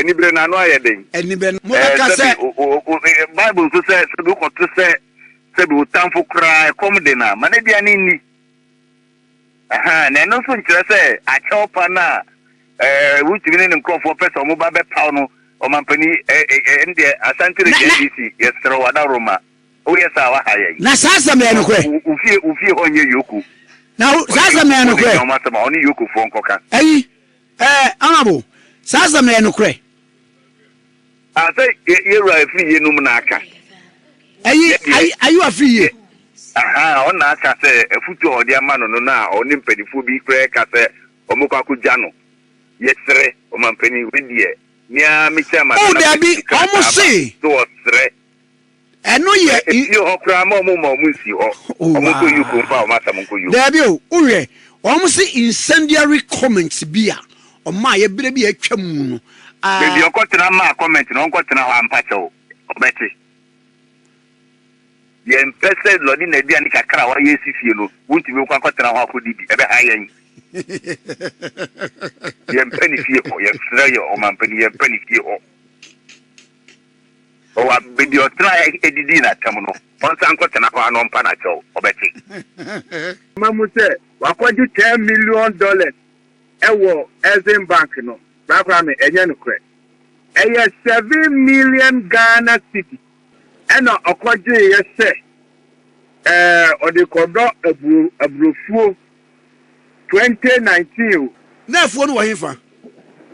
anibere n'ano ayɛ den. anibere mo bɛ ka sɛ. bible nso sɛ sɛbi wokɔto sɛ sɛbi wotamfo koraa ɛkɔm de na ma n'aduane nni. Na ɛno nso nkyerɛ sɛ akyɛwpa no a Rotimi ne ne nkurɔfoɔ pɛ sɛ wɔba bɛpaw no ɔmampanin ɛne deɛ Asante Reggae NDC yɛserɛ wo Adaworoma woyɛ saa a waha yɛn. Na saa asɛm no yɛ nokorɛ. Wo fie wo fie hɔ nyɛ Yoko. Na saa asɛm no yɛ nokorɛ. Ɔne wɔn asɛm a ɔne Yokofoɔ nkɔka. Ayi ɛɛ honourable saa asɛm no yɛ nokorɛ. Ah sɛ yɛ yɛ wura efiri yie nom na aka. Ɛyi ayi ayi wa firi yie. Ahaa ɔno na aka sɛ afutuo a ɔde ama no no na ɔne mpanifoɔ bi koraa ɛka sɛ ɔmo kɔ akɔ gya no. Yɛ serɛ ɔmampanin wei deɛ me ara me chairman na na ɔpɛ sika saa ba so ɔserɛ. ɛno yɛ. Efie hɔ koraa ma wɔn ma wɔn nsi hɔ. Wɔn nso yi kuro mfa wɔn asɛm nko yom. Daabi o, wohwɛ wɔn se incendiary comments bi a wɔn a yɛbrɛ bi a atwa mu no. Baabi ɔkɔ tena maa comment no ɔnkɔ tena hɔ ampa kyɛw ɔbɛte. Yɛn pɛ sɛ lɔde na aduane kakra a wɔayɛ si fie no wontumi nkɔ akɔ tena hɔ akɔdi bi ɛbɛha yɛn. Yɛn pɛ ne fie hɔ yɛn srɛ yɛ ɔmampanin yɛn pɛ ne fie hɔ. Wɔ baabi a ɔtenae didii n'atɛm no, ɔnsan nkɔtena hɔ ara na ɔmpa no akyɛw. Ɔbɛte. Ama mu sɛ wakɔgye ten million dollars wɔ Exim Bank no, Bra Kwame, ɛnyɛ nokorɛ. Ɛyɛ seven million Ghana cedi ɛna ɔkɔgyeeɛ sɛ ɔde rekɔdɔ aburofuo twenty nineteen o. N'afuo no wɔ hefa?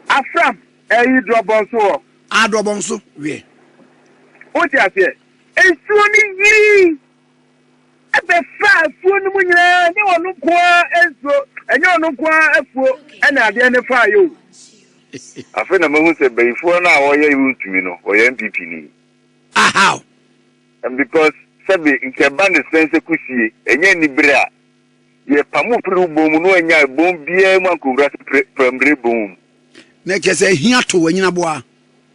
Afram. Eyi drɔbɔ nso wɔ. Aa drɔbɔ nso weɛ. Wote aseɛ? Nsuo no yirii bɛfaa afuo no mu nyinaa, ɛnyɛ ɔno nko ara nsuo, ɛnyɛ ɔno nko ara afuo ɛna adeɛ no faa yɛ o. Afei na mahu sɛ bayifoɔ no a wɔyɛ wontumi no wɔyɛ NPP ni. Ah how? And because sɛbe nka ɛba ne sɛn sɛ kusie ɛnyɛ anibere a, yɛpamo firi wo bɔn mu na wannya bɔn biara mu ankɔwura pramire bɔn mu. Na kyerɛ sɛ ahia to w'anyin aboa.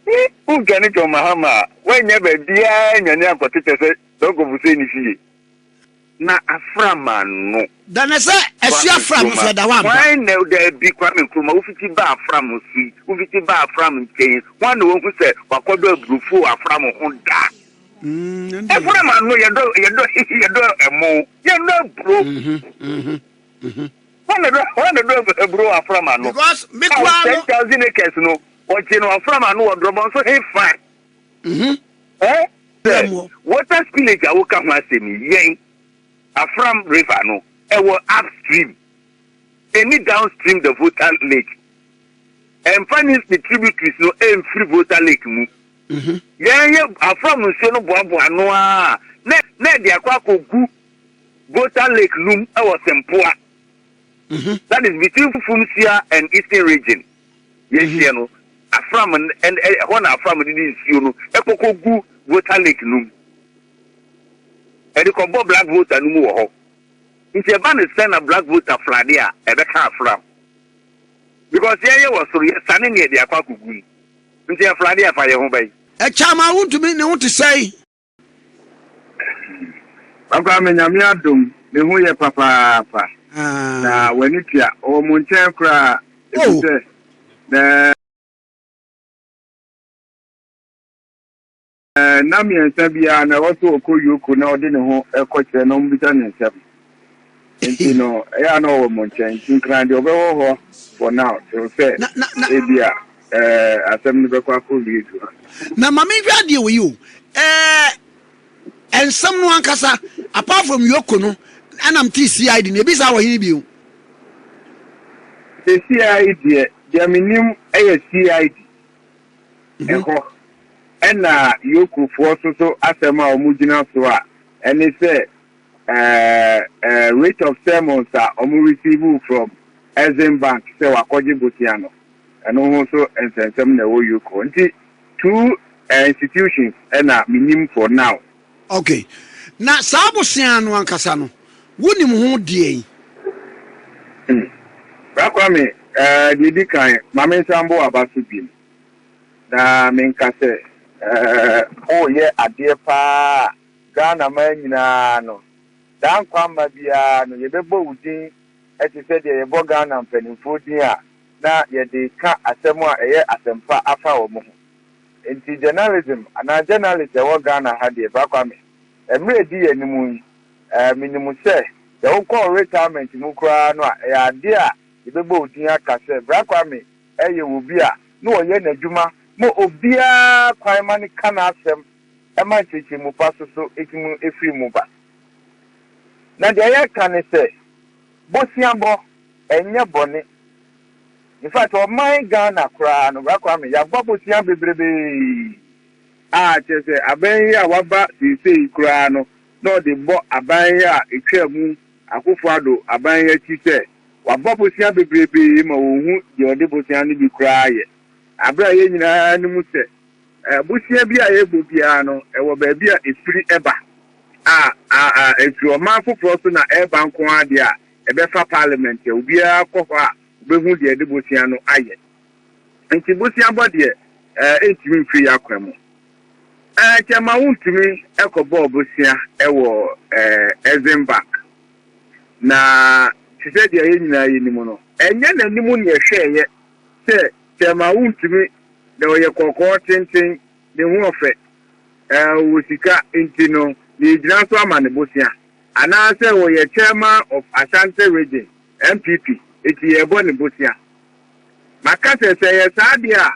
Ni u ga ni John Mahama a wa nya ba bia nya ni a kɔte kyɛ sɛ dɔ nkɔfo sɛ ni fie. Na afra ma no. Da na sɛ ɛsi afra mo so ɛda hɔ ampa. Hwan na o da bi Kwame Nkrumah wo fiti ba afra mo so yi wo fiti ba afra mo nkyɛn yi hwan na wa hu sɛ wa kɔ dɔ abrofo wɔ afra mo ho da. Umm ɛndeɛ. Afra ma no yɛ dɔ yɛ dɔ yɛ dɔ ɛmo yɛ dɔ aburo. Uhmm uhmm uhmm. Hɔ na do hɔ na do ab aburow afram ano. Because me Ao koraa no. ten thousand acres no, wɔgye no afram ano wɔ Drɔbɔn so hefa? Mhm. Ɛ? Sɛ, Yɛn wɔ. water spillage a woka ho asɛm yi, yɛn, Afram River no, ɛwɔ upstream, ɛnni downstream the Volta Lake. Ɛmfa ne ne tributaries no ɛmfiri Volta Lake mu. Mhm. Yɛn yɛ Afram nsuo no boaboa ano ara na na ɛde akɔ akɔgu Goater Lake Lum wɔ Sempoa, that is between Fumsia and Eastern Region, yɛnhyeɛ no, Afram n ɛn ɛ ɛhɔ na Afram de ne nsuo no kɔ kɔgu Goater Lake no mu. Ɛde kɔbɔ Blackwater no mu wɔ hɔ. Nti ɛba no sɛ na Blackwater flade a, ɛbɛka Afram. Because yɛn yɛwɔ soro, yɛsane na yɛde akɔ akɔgu mu. Nti ɛflade a, ɛfa yɛn ho bɛn? Ɛkyɛ ama wontumi ne wo te sɛn? Papa me nyame adom ne ho yɛ papaapa na ah. w'ani tua ɔwɔ mo nkyɛn koraa ɛfiri oh. sɛ na na mmiɛnsa biara na ɛwɔ sɛ ɔkɔ yoko na ɔde ne ho ɛkɔkyerɛ na ɔmbisa ne nsɛm Nti no, ɛyɛ a na ɔwɔ mo nkyɛn. Nti nkran deɛ ɔbɛwɔ hɔ for now till sɛ Na na na ebia ɛɛ asɛm no bɛkɔ akɔwie du ha. na ma menhwɛ adeɛ wɔ yi o. Ɛɛ nsɛm no ankasa apart from Yoko no ɛna mete CID no ebi saa wɔ hene bio. Sɛ CID deɛ deɛ menim ɛyɛ CID Mhm. ɛhɔ ɛna Yokofoɔ so so asɛm a wɔgyina so a ɛne sɛ Ɛɛɛɛɛɛ rate of sermons a ɔmo receive from Exim bank sɛ wakɔgye bosea no, ɛno ho nso nsɛnsɛm na ɛwɔ uk hɔ. Nti two institutions na menim for now. Ok, na saa bosea no ankasa no wonim ho deɛn? Hmm, Bra Kwame, ɛɛɛ deɛ edi kan, ma me nsa mbɔ w'aba so bim na menka sɛ, ɛɛɛ. Ooyɛ adeɛ paa a Ghana man nyinaa no, saa nkwa mma biara no yɛbɛbɔ wo din te sɛ deɛ yɛbɔ Ghana mpanimfoɔ din a na yɛde ka asɛm a ɛyɛ asɛmpa afa wɔn ho. Enti journalism anaa journalist a ɛwɔ Ghana ha deɛ Bra Kwame, mmerɛ ɛdi yɛn anim yi, menim sɛ sɛ wokɔ wo retirement mu koraa no a ɛyɛ adeɛ a yɛbɛbɔ wo din aka sɛ Bra Kwame yɛ obi a na ɔyɛ n'adwuma ma obiara kwan ma no ka n'asɛm, ɛma nkyerɛkyerɛmu pa so so tumi firi mu ba. Na deɛ yɛreka ne sɛ, boseabɔ ɛnyɛ bɔne. In fact, ɔman Ghana koraa no, Bra Kwame, yɛabɔ bosea bebrebee. A, kyerɛ sɛ, aban yi a waba seesei yi koraa no, na ɔde bɔ aban yi a ɛtwaa mu, Akuffo Addo aban yi akyi sɛ, wabɔ bosea bebrebee ma wɔnhu deɛ ɔde bosea no bi koraa yɛ. Berɛ a yɛn nyinaa nim sɛ, Abusua bi a yɛbɔ biara no, ɛwɔ baabi a ɛfiri ba a, a, a ɛfiri ɔman foforɔ so na ɛreba nko ara deɛ a, ɛbɛfa parliament a obiara kɔ hɔ a ɔbɛhu deɛ ɛde bosea no ayɛ. Nti boseabɔ deɛ, ɛɛ, ɛntumi mfiri yɛn akwan mu. Ɛɛ, kyɛ ma wontumi kɔbɔɔ bosea wɔ, ɛɛ, Exim Bank. Na te sɛ deɛ yɛn nyinaa yɛnim no, ɛnyɛ n'anim na yɛhwɛeɛ sɛ, Thelma wontumi, na ɔyɛ kɔkɔɔ tenten, ne ho ɔfɛ, ɛɛ ɔwɔ sika, nti no yɛregyina so ama no bosea. Anaasɛ ɔyɛ Chairman of Ashanti Region, NPP, nti yɛrebɔ no bosea. Maka sɛ, sɛ ɛyɛ saa deɛ a,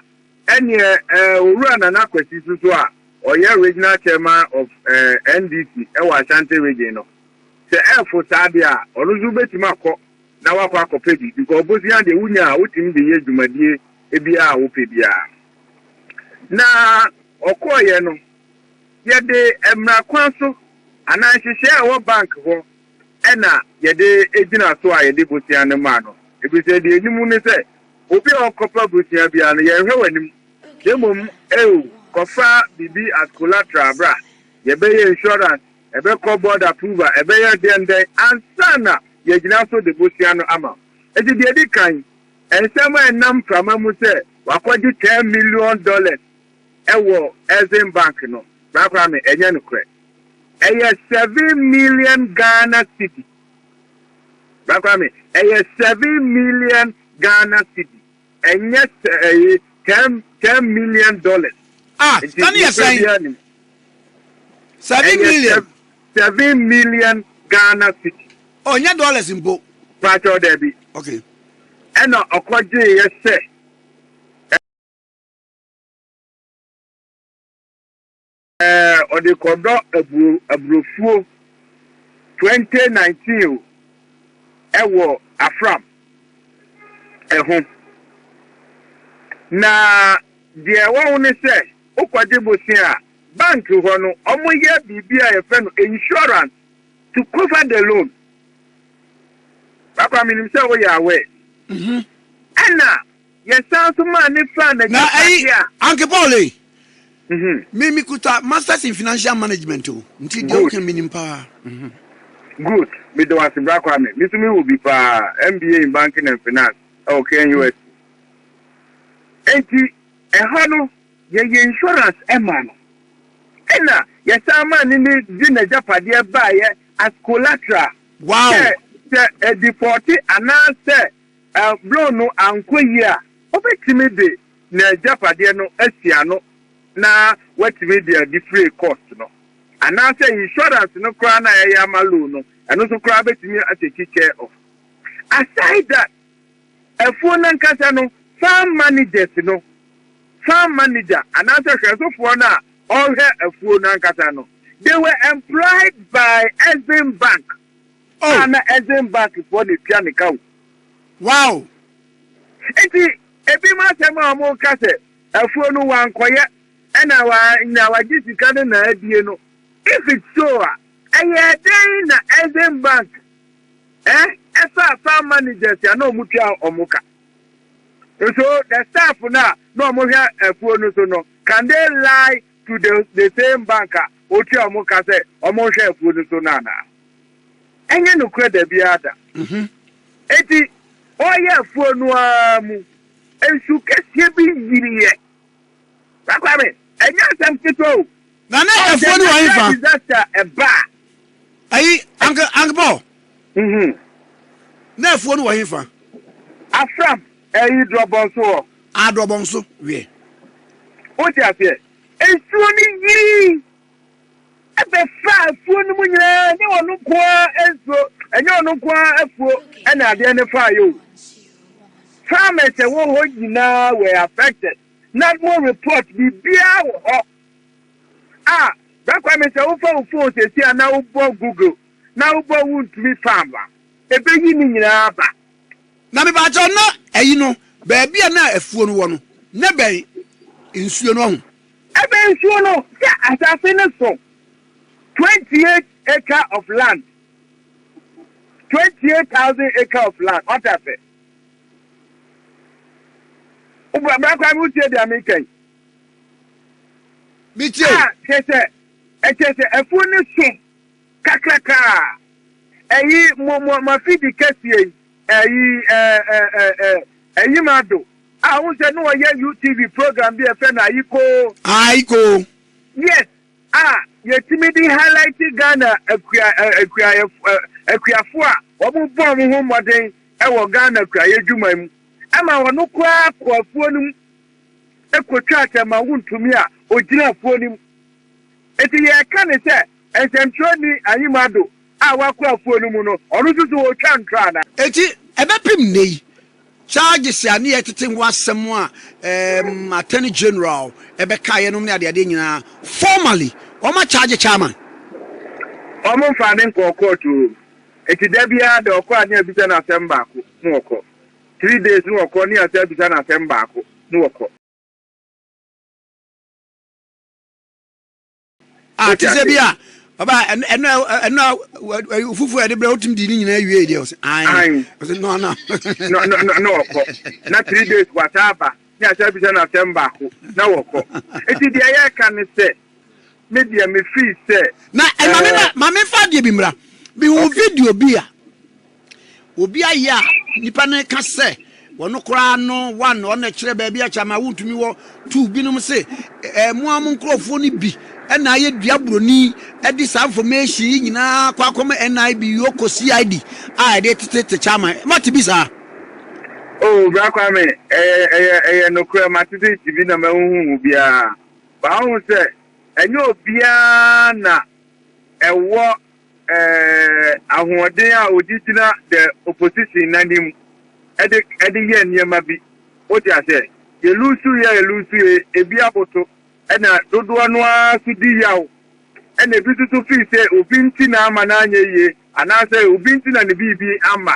ɛnneɛ ɛɛ Owura Nana Kwasi nso so a ɔyɛ Regional Chairman of ɛɛ NDC wɔ Ashanti Region no, sɛ ɛrefo saa deɛ a, ɔno nso bɛtumi akɔ na woakɔ akɔpɛ bi, nkɔɔbosea deɛ wonya a wotumi de yɛ dwumadie biara a wopɛ biara. Na ɔkɔɔeɛ no, yɛde mmara kwan so anaa nhyehyɛɛ a ɛwɔ bank hɔ na yɛde gyina so a yɛde bosea no maa no, ɛfiri sɛ deɛ yɛnim ne sɛ obi a ɔkɔpɛ bosea biara no yɛnhwɛ w'anim, na mmom, eo, kɔfa biribi as collateral bra, yɛbɛyɛ insurance Ɛbɛkɔ board approval, ɛbɛyɛ dɛn dɛn ansa na yɛagyina so de bosea no ama wo. Enti deɛ ɛdi kan, nsɛm a ɛnam mframa mu sɛ wɔakɔgye ten million dollars wɔ Exim Bank no, korakora me, ɛnyɛ nokorɛ. Ɛyɛ seven million Ghana cedi. Korakora me, ɛyɛ seven million Ghana cedi. Ɛnyɛ sɛ ɛyi ten ten million dollars. Ah, ta ne yɛ sɛn? Seven million. Seven million Ghana city. Oh, nyɛ dollars mpo. Pàtó dɛbi. Okay. Ɛna ɔkɔgye yɛ sɛ. Ɛɛ ɔde kɔdɔ aburo aburofuo twenty nineteen o ɛwɔ afram ɛho na deɛ ɛwɔ ho ne sɛ wokɔgye bosea a bank hɔ no wɔyɛ biribi a yɛfrɛ no insurance to cover the loan papa menim sɛ woyɛ aware ɛna Yɛsan nso maa no faa n'agyapade a. Na ayi, Paul ei, me me kuta masters in financial management o, nti deɛ woka menim paa. Good, meda wo ase Bra Kwame, me nso me wɔ bi paa, MBA in banking and finance ɛwɔ KNUST. Enti ɛhɔ no yɛyɛ insurance ɛmaa no, ɛna yɛsan maa no ne de n'agyapadeɛ baeɛ as collateral sɛ sɛ ɛdifɔɔte anaasɛ. Bere no ankɔ yie a, ɔbɛtumi de n'agyapadeɛ no asi ano na watumi de adifire cost no. Anaasɛ insurance no koraa no a yɛyɛ ama loan no, ɛno nso koraa bɛtumi atake care of. Aside that, afuo no ankasa no, farm managers no, farm manager anaasɛ hwɛsofoɔ no a ɔhwɛ afuo no ankasa no, they were employed by Exim Bank Oh. A na Essen Bus foɔ na etua ne ka o. Wow. Nti ebinom asɛm a wɔn ka sɛ afuo no wankɔyɛ ɛna wanya wagye sika no na abie no if it's so a ɛyɛ dɛn na Essen Bank eh ɛfa farm managers a na wɔn tua wɔn ka nso the staff no a na wɔn hwɛ afuo no so no can they lie to the the same bank a otua wɔn ka sɛ wɔnhwɛ afuo no so no anaa? Ɛnyɛ nokorɛ da biara da. Enti ɔreyɛ afuo no ara mu, nsu kɛseɛ bi yiriiɛ. Saa Kwame, ɛnyɛ asɛm ketewa o. Na na Ɔn sɛ afuo no wɔ natural hefa? disaster ɛba a, Ayi, Uncle Uncle Paul, Mhm. na afuo no wɔ hefa? Afram. Eyi drɔbɔ nso wɔ. Aa drɔbɔ nso wiɛ. Wote aseɛ? Nsuo no yirii bɛfaa afuo no mu nyinaa, ɛnyɛ ɔno nko ara nsuo, ɛnyɛ ɔno nko ara afuo na adeɛ no faeɛ o. Farmers ɛwɔ hɔ nyinaa were affected. NADMO report biribiara wɔ hɔ a Bra Kwame sɛ wofa wo phone sɛsi a na wobɔ Google na wobɔ wontumi farm a, ɛbɛyi ne nyinaa aba. Na mepakyɛw na ayi no baabi a na afuo no wɔ no na ɛbɛn nsuo no ɔho. Ɛbɛn nsuo no sɛ asase no so twenty eight acre of land twenty eight thousand acre of land wate ase wobra bra kwa mi tie deɛ mi kɛn. Metie. A kyerɛ sɛ ɛkyerɛ sɛ afuo no so. Kakraka a, eyi mo mo mafidi kɛseɛ yi ɛyi ɛɛ ɛɛ ɛɛ ɛyim ado a wohu sɛ ne wɔyɛ UTV program bi a ɛfɛ no Ayikoo. Ayikoo. Yes a yɛtumi de highlight Ghana akua akuayɛfo akuafo a wɔn bɔ wɔn ho mmɔden wɔ Ghana kuayɛ dwuma mu ɛma wɔn koraa kɔ afuo no mu ɛkɔtwa atɛma wontumi a ɔgyina afuo no mu eti yɛka ne sɛ Nsɛnkyerɛwnyi Anyim Addo a ɔakɔ afuw no mu no, ɔno so so otwaa ntra ana? Ntsi, ebɛpem ndɛ yi, charges a ne yɛ tsetse ho asɛm a Attorney General bɛkaeɛ nom ne adeadeɛ nyinaa, formally, wɔn a charge Chairman. Wɔn mfaa no nkɔɔ court oo, enti da biara da ɔkɔ a ne abisa no asɛm baako, ne wɔkɔ. Three days ne wɔkɔ, ne yɛasan abisa no asɛm baako, ne wɔkɔ. a te sɛ bi a ɔba ɛno ɛno a fufuo a yɛde brɛ wotumi di ne nyinaa wie deɛ ɔsɛ ayi ɔsɛ no ana na ɔkɔ na three days wasa aba ne asa bisa no asɛm baako na wɔkɔ eti deɛ yɛka ne sɛ me deɛ me fii sɛ na ɛma me ma me fa deɛ bi mmra bi hu video bi a Obi ayɛ a nnipa no ka sɛ ɔno koraa no wa na ɔna kyerɛ baabi akyɛ ama wontumi wɔ tu binom se eh, mo a mo nkurɔfoɔ no bi ɛna ayɛ dua buroni ɛde saa information yi nyinaa kɔ akɔma NIB yoko CID a ɛde tete te kyama mate bi saa Oh, bra Kwame, ɛyɛ ɛyɛ ɛyɛ nokorɛ matete nti bi na mahuhu biara. Ba wohu sɛ ɛnyɛ obiara na ɛwɔ eh, ahoɔden a ɔde gyina the opposition n'anim ɛde ɛde yɛ nneɛma bi wote aseɛ yɛlusu yɛ yɛlusu yɛ ebi aboto ɛna dodoɔ no ara so di yaw ɛna ebi nso so fii sɛ obi nti na ama no anyɛ yie anaasɛ obi nti na ne biribi ama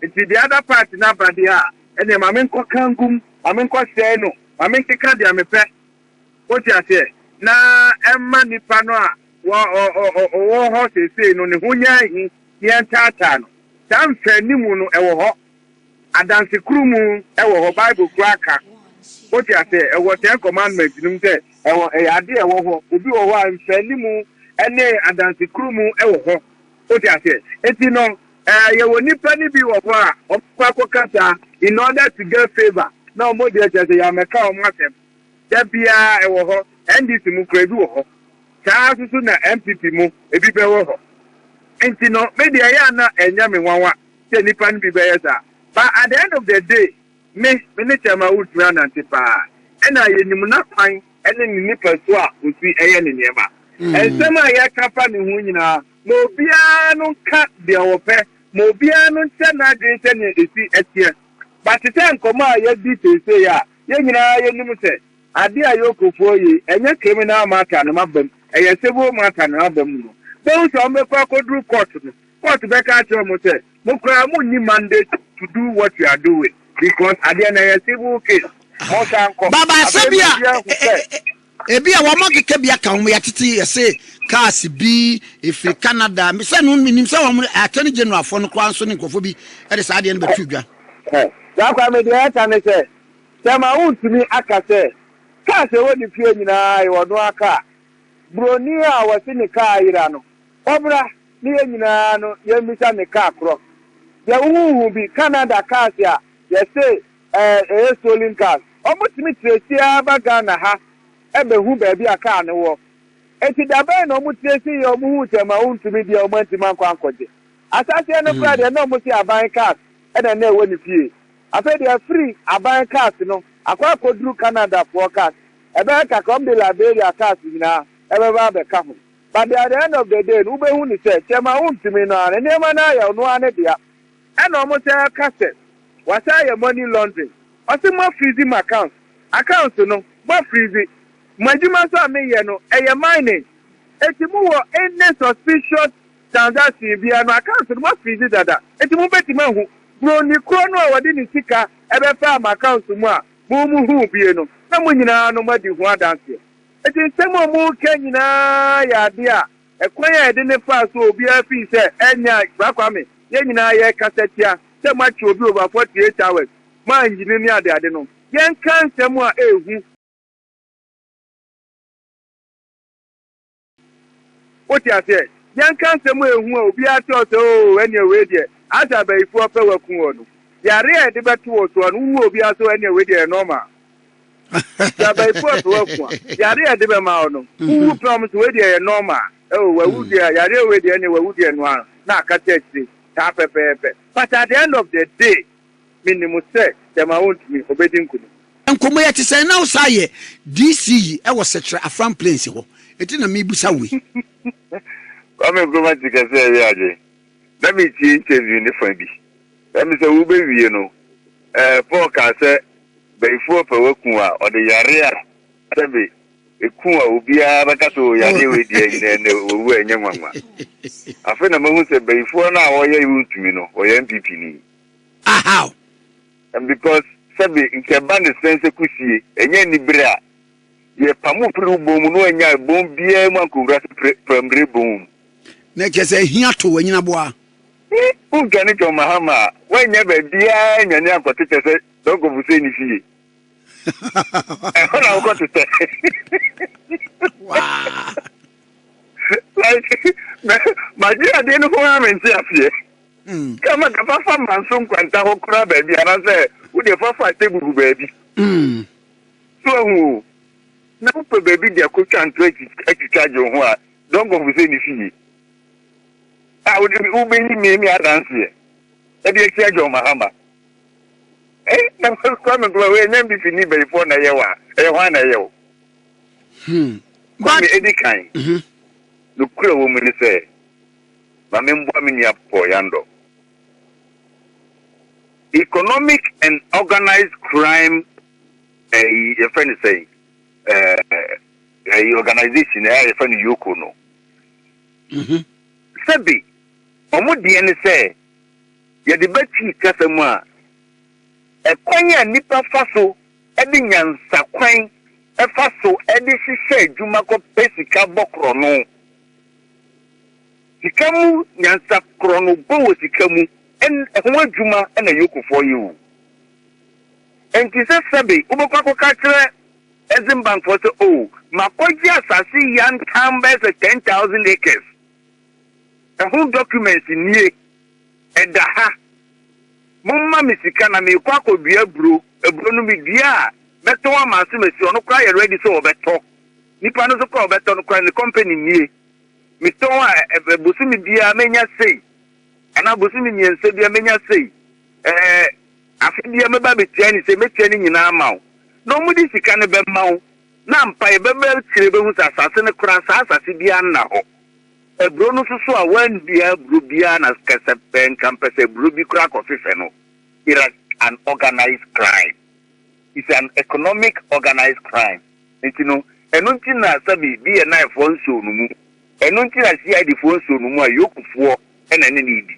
nti the other part no aba deɛ a ɛneɛ ma menkɔ kangum ma menkɔ sɛe no ma menkeka deɛ mepɛ Wote aseɛ? Na ɛmma nipa no a wɔ, ɔ, ɔ, ɔ, ɔwɔ hɔ seesei no ne ho nyɛ ahi, na yɛntaataa no. Saa mfɛanimu no, ɛwɔ hɔ. Adansekurunmu, ɛwɔ hɔ. Bible koraa ka. Wote aseɛ? Ɛwɔ Ten Commandments no mu sɛ, ɛwɔ, ɛyɛ ade a ɛwɔ hɔ. Obi wɔ hɔ a mfɛanimu ne adansekurunmu wɔ hɔ. Wote aseɛ? Enti no, ɛ, yɛwɔ nipa no bi wɔ hɔ a wɔbɛkɔ akɔkasa in order to get favour, na wɔn deɛ kyerɛ sɛ yɛammɛka wɔn asɛm. Da biara ɛwɔ hɔ, NDC mu kura ebi wɔ hɔ. Saa ara nso so na NPP mu ebi bɛwɔ hɔ. Nti no, me deɛ ɛyɛ a na ɛnyɛ me nwanwa sɛ nnipa no bi bɛyɛ saa. But at the end of the day, me, me ne Chairman Wood tumi anante paa. Ɛna yɛnim n'akwan ne ne nipasu a ɔsi yɛ ne nneɛma. Nsɛm a yɛka fa ne ho nyinaa, ma obiara no nka deɛ ɔpɛ, ma obiara no nkyɛ n'adwene sɛdeɛ ɛsi teɛ. But te sɛ nkɔmmɔ a yɛadi seesei a, Yɛn nyinaa yɛnim sɛ adeɛ a Yoko foɔ yi ɛnyɛ criminal matter no aba mu, ɛyɛ civil matter no aba mu no, bɛhu sɛ wɔbɛkɔ akɔduru court no, court bɛka akyerɛ wɔn sɛ mo koraa mo nni mandate to do what you are doing because adeɛ no ɛyɛ civil case, monsan kɔ. Baba sɛbia, eh, eh, eh, eh. Ebia wɔn akeka bi aka wɔn yɛtete yɛse cars bi ɛfiri Canada sɛ no menim sɛ wɔn attorney general foɔ no koraa nso ne nkurɔfoɔ bi de saa adeɛ no bɛtoo dwa. Hɛ saa kwaa me deɛ ɛka ne sɛ sɛ ma wo ntumi aka sɛ cars ɛwɔ ne fie nyinaa yɛ ɔnoaa car broni a wɔse ne car ayera no ɔbra ne yɛ nyinaa no yɛmmisa ne car korɔ deɛ wo ho nhu bi Canada cars a yɛse Eh eh stolen cars ɔmo tumi trace aa ba Ghana ha ɛbɛhu baabi a car no wɔ enti da bɛn na ɔmo trace yɛ ɔmo huu sɛ ma wontumi deɛ ɔmo antumi ankɔ ankɔgye asaseɛ no koraa deɛ na ɔmo se aban cars ɛna na ɛwɔ ne fie afei deɛ afiri aban cars no akɔ akɔduru Canada foɔ cars ɛbɛyɛ kakra ɔmo de Liberia cars nyinaa ɛbɛba abɛka ho but at the end of the day no wobɛhu ne sɛ sɛ ma wontumi no aa no nneɛma no aa yɛ ɔno aa ne dea. Ɛna ɔmo san ɛka sɛ wasan ayɛ money laundering ɔse mo afrizi mo accounts accounts no mo afrizi mo adwuma nso a meyɛ no ɛyɛ mining enti mo wɔ any suspicious transaction biaa no accounts no mo afrizi dada enti mo bɛtumi ahu broni korɔ no a ɔde ne sika ɛbɛfaa mo accounts mu a mo mo huu bie no na mo nyinaa no mo adi ho adanseɛ enti nsɛm a ɔmo reka nyinaa yɛ adeɛ a Ɛkwan a yɛde no faa so obiara fii sɛ ɛnyɛ a Bra Kwame yɛn nyinaa yɛkasa tia sɛ moakye obi over forty eight hours mo annyini ne ade ade no yɛnka nsɛm a ɛhu Wote aseɛ? Yɛnka nsɛm a ɛhu a obiara te hɔ sɛ oo ɛneɛ wei deɛ asɛ abayifoɔ pɛ waku wɔ no. Yare a yɛde bɛto wɔ soɔ no wohu obiara sɛ oo ɛneɛ wei deɛ ɛyɛ normal. Sɛ abayifo apɛ w'aku a, yare a ɛde bɛma wo no, wowu pɛ wɔn sɛ wei deɛ ɛyɛ normal. Oh, wawu deɛ a, yareɛ wei deɛ ɛneɛ wawu deɛ noa no na akata akyire saa pɛpɛɛpɛ. But at the end of the day, menim sɛ gyama wontumi, ɔbɛdi nkunim. Nkomo yɛ te sɛn na wo saa yɛ DC yi ɛwɔ sɛkyerɛ afram plains hɔ eti na me busa wo yi. Kwame Nkrumah ti kɛse ɛyɛ adwen. Na meretie interview no fa bi, na mese wobewie no, eh, Paul kaa sɛ bayifoɔ ɔpɛ waku a ɔde yareɛ a sɛbe ɛku a obiara bɛka sɛ o yareɛ wei deɛ ɛnyɛ ɛnɛ wawu a ɛnyɛ nwanwa. Afei na mahu sɛ bayifoɔ no a ɔyɛ wontumi no ɔyɛ NPP ni. Ah how? And because sɛbe nka ɛba ne sɛn sɛ kusie ɛnyɛ anibere a. Yɛpamoo firii wo bon mu, na wannyae bon biara mu ankɔwura Prammire Bon mu. Na kyerɛ sɛ hia too anyinaboa. He who dwane John Mahama a wannya baabiara annwane ankɔtetɛ sɛ Doug Obosei ne fie? Ɛhɔ na wokɔtetɛ. Like, magye adeɛ no ho ara mente aseɛ. Sɛ ma ka fa fa Manso nkwanta hɔ koraa baabi anaasɛ wodeɛ fa fa Atebubu baabi. So ahu o? Na wopɛ baabi de akotwa nto atwitwa gye wo ho a, don't go for sɛ ne fie a wode wobɛyi me ne adanseɛ ɛde atia John Mahama. Eh, na Kwame Nkrumah wei ɛnyɛ mbifi ni bayifoɔ na ɛyɛ wa, ɛyɛ hwan na ɛyɛ o? Hmm. Kwame ɛdi kan. Mm-hmm. Nokura wɔ mu ne sɛ, ma memboa me nua Paul Yandor. Economic and organised crime ɛyi yɛfrɛ no sɛn ɛɛ ɛyi organisation ɛyɛ a yɛfrɛ no yoko no mhm. sɛbi wɔn deɛ ne sɛ yɛde bɛtwi kasa mu a ɛkwan a nipa fa so ɛde nyansa kwan ɛfa so ɛde hyehyɛ adwuma kɔ pɛ sika bɔ korɔ no Sika mu nyansa korɔno bɔ wɔ sika mu ɛn ɛho adwuma na Yokofoɔ yɛ o. Ɛnti sɛ sɛbe wobɛkɔ akɔka akyerɛ Exim Bank foɔ sɛ o makɔgye asase yantam bɛyɛ sɛ ten thousand acres ɛho documents nie ɛda ha momma me sika na meekɔ akɔdua aburo aburo no medua a mɛtɔn ama asomasi ɔno koraa yɛ ready sɛ ɔbɛtɔ nipa no nso koraa ɔbɛtɔ no koraa ne company nie. Metɔn a, ɛbɛ bosome biara mɛnya sei, anaa bosome mmiɛnsa biara mɛnya sei, ɛɛ afe biara mɛba abɛtua no sei, mɛtua ne nyinaa ama wo. Na wɔde sika no bɛma wo, na ampa yɛ bɛba akyire wobɛhu sɛ asase no koraa saa asase biara nna hɔ. Aburo no nso so a wɔannua aburo biara na kɛ sɛ pɛ nka mpɛ sɛ aburo bi koraa kɔfefɛ no, it is an organized crime. It's an economic organized crime. Enti no, ɛno nti na sɛbe BNI-foɔ nsɔɔ no mu, ɛno nti na CID-foɔ nsɔɔ no mu a York-foɔ na ɛne no redi.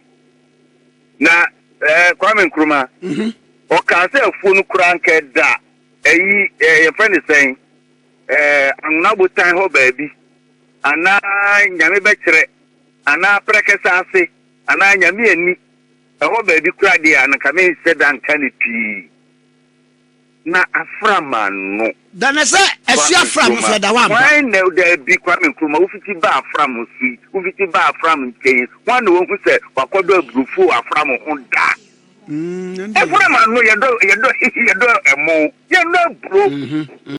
Na eh, Kwame Nkrumah, mm-hmm. ɔkaa sɛ afuo no koraa nka ɛda ɛyi eh, yɛfrɛ ne sɛn eh, anwona botan hɔ baabi anaa nyame bɛkyerɛ anaa prɛkɛsɛ ase anaa nyame ani ɛhɔ baabi koraa deɛ anka menhyɛ da nka ne pii na afra m'ano. Da no sɛ ɛhye afra mo so ɛda hɔ ampa. Hwan na Dabi, Kwame Nkrumah, wofiti baa afra mo so yi, wofiti baa afra mo nkyɛn yi, hwan na wahu sɛ wakɔdɔ aburofo wɔ afra mo ho da? Afra m'ano, yɛdɔ, yɛdɔ, yɛdɔ ɛmo, yɛnnɔ aburo.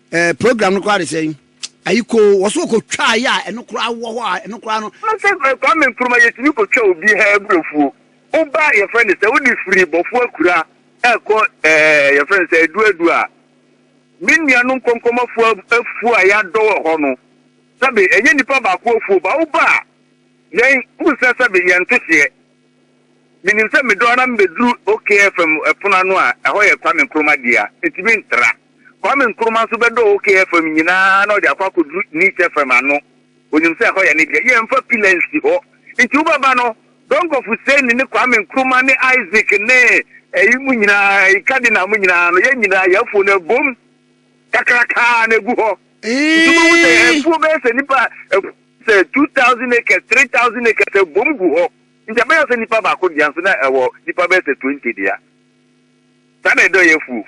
Eh, program no koraa de sɛn? Ayi koo, wɔ so ɔkɔtwaeɛ a ɛno koraa wɔ hɔ a ɛno koraa no. Ɔno sɛ eh, Kwame Nkrumah yɛtumi kɔtwa obi ha aburofuo. Woba yɛfrɛ no sɛ wode firi Bɔfo Akura ɛkɔ eh, yɛfrɛ no sɛ Aduadu a me nuanom nkɔnkɔmafoɔ ab- afuo a yɛadɔ wɔ hɔ no sɛbe ɛnyɛ nipa baako afuo ba woba a yɛn wohu sɛ sɛbe yɛnto hyeɛ Menim sɛ medɔ ara mebɛduru OK FM pono ano a, ɛhɔ yɛ Kwame Nkrumah dea. Enti mentra. Kwame Nkrumah nso bɛdɔɔ OK FM nyinaa na ɔde akɔ akɔduru Niche FM ano. Ɔnim sɛ ɛhɔ yɛ ne dea. Yɛmfa pila nsi hɔ. Enti wobɛba no, Donkor Fuseni ne Kwame Nkrumah ne Isaac ne ɛyi mo nyinaa, ɛyi Cardinal mo nyinaa no, yɛn nyinaa yɛn afo no abom kakrakaa na ɛgu hɔ. Nti wobɛhu sɛ Eeii! afuo bɛyɛ sɛ nnipa afuo. sɛ two thousand acres, three thousand acres ɛbom gu hɔ, nti ɛbɛyɛ sɛ nipa baako dea nso na ɛwɔ nipa bɛyɛ sɛ twenty dea. Saa na ɛdɔ yɛ afuo.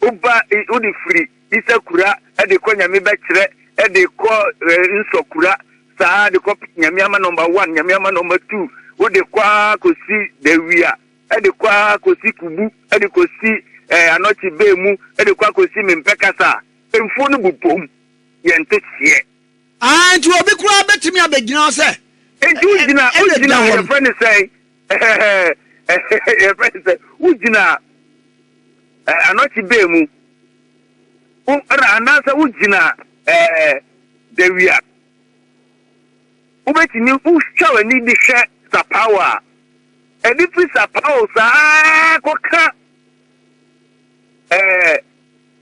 Woba i- wode firi Isakura ɛde kɔ Nyame bɛkyerɛ ɛde kɔ eh, Nsɔkura saa de kɔ Nyame ama number one, Nyame ama number two, wode kɔ ara kɔsi Dawia ɛde kɔ ara kɔsi Kubu ɛde kɔsi eh, Anɔkye Bee mu ɛde kɔ akɔsi Mempɛ Kasa a, mfuo no bobom. yɛnte seɛ. Aane, enti obi koraa bɛtumi abɛgyina hɔ sɛ Enti wogyina, wogyina, yɛfrɛ no sɛn? yɛfrɛ no sɛ, wogyina eh, anɔkye bɛɛ mu, wo, ɛna anaasɛ wogyina eh, dawia. Wobɛtumi, wotwa w'ani de hwɛ sapao a, ɛde firi sapao saa kɔka Ɛɛ,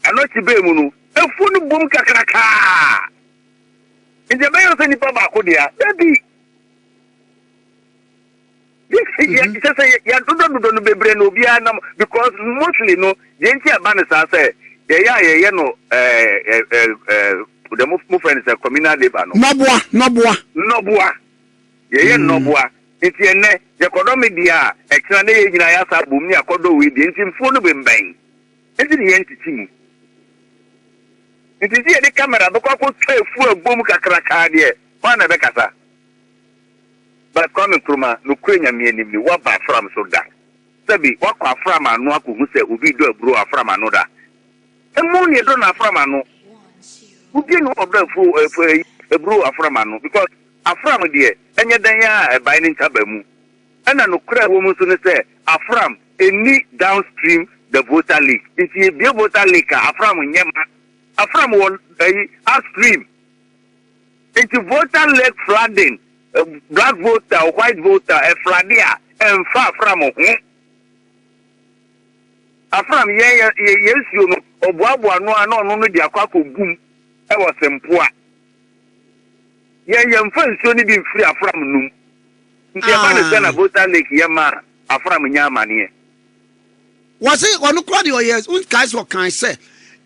ɛno akyi bɛɛ mu no, afuo no bom kakrakaa. Nti ɛbɛyɛ no sɛ nipa baako dea? Dabi! Mhm. Kyɛ sɛ yɛdodɔdodɔ no bebree na obiara nam because mostly no deɛ nti ɛba no saa sɛ yɛyɛ a yɛyɛ no ɛɛ ɛɛ ɛɛ ɛɛ, deɛ mo mo fɛ no sɛ communal labour no, Nɔboa, nɔboa. nnɔboa. Yɛyɛ nnɔboa, enti ɛnnɛ yɛkɔdɔ me dea a, ɛkyena na yɛn nyinaa yɛasa abom ne akɔdɔ wei deɛ, enti mfuo no bembɛn. Enti ne yɛn ntete mu. Enti sɛ yɛde camera bɛkɔ akɔtwa afuo a ɛbom kakrakaa deɛ, hwan na ɛbɛkasa? But Kwame Nkrumah, nokorɛ Nyame anim ni, woaba afram so da? Sɛbe, woakɔ afram ano akɔhu sɛ obi redɔ aburo wɔ afram ano da? Ɛmu na yɛdɔ no afram ano. Obiara nni hɔ a ɔdɔ afuo, ɛɛ, aburo wɔ afram ano because. Afram deɛ, ɛnyɛ dɛn ara a ɛbae ne ntaban mu. Ɛna nokorɛ a ɛwɔ mu nso ne sɛ, Afram nni downstream the Volta Lake. Nti yɛbue Volta Lake a, Afram nyɛ ma. Afram wɔ ɛyi, upstream. Nti Volta Lake flooding, black Volta or white Volta ɛflade a, ɛmfa Afram ho. Afram yɛn yɛ, yɛn nsuo no, ɔboaboa ano ara na ɔno no de akɔ akɔgu mu wɔ Sempoa. Yɛn yɛmfa nsuo no bi mfiri afram nnom. Nti ɛba ne sɛ na Volta Lake yɛ ma a afram nya amaneɛ. Wɔse ɔno koraa deɛ ɔyɛ wonkae sɛ ɔkae sɛ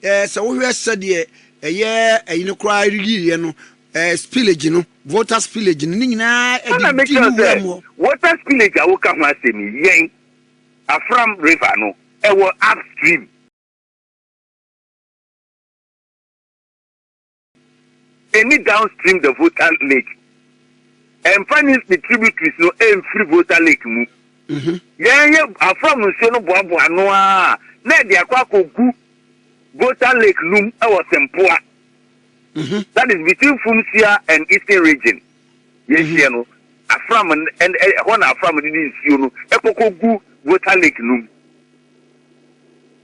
ɛɛ sɛ wohwɛ sɛdeɛ ɛyɛ ɛyi no koraa yiiɛ no ɛɛ spillage no water spillage no ne nyinaa ɛde di ne wura mu hɔ. Water spillage a woka ho asɛm yi yɛn afram river no ɛwɔ upstream. Ɛnni downstream the Volta Lake. Ɛmfa ne ne tributaries no mfiri Volta Lake mu. Mhm. Yɛn yɛ afra mu nsuo no boaboa ano a na ɛde akɔ akɔgu Volta Lake num wɔ Sempoa. Mhm. That is between Fumsia and Eastern region. Yɛhyeɛ no, afra mu ɛhɔ na afra mu de ne nsuo no ɛkɔkɔgu Volta Lake num.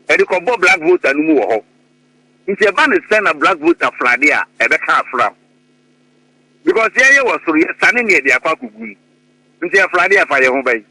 Ɛde kɔbɔ Black Volta no mu wɔ hɔ. Nti ɛba no sɛ na black vote afra de a ɛbɛka afra ho because yɛn yɛ wɔ soro yɛ sane neɛ de akɔ akɔgu mu nti afra de ɛfa yɛn ho bɛn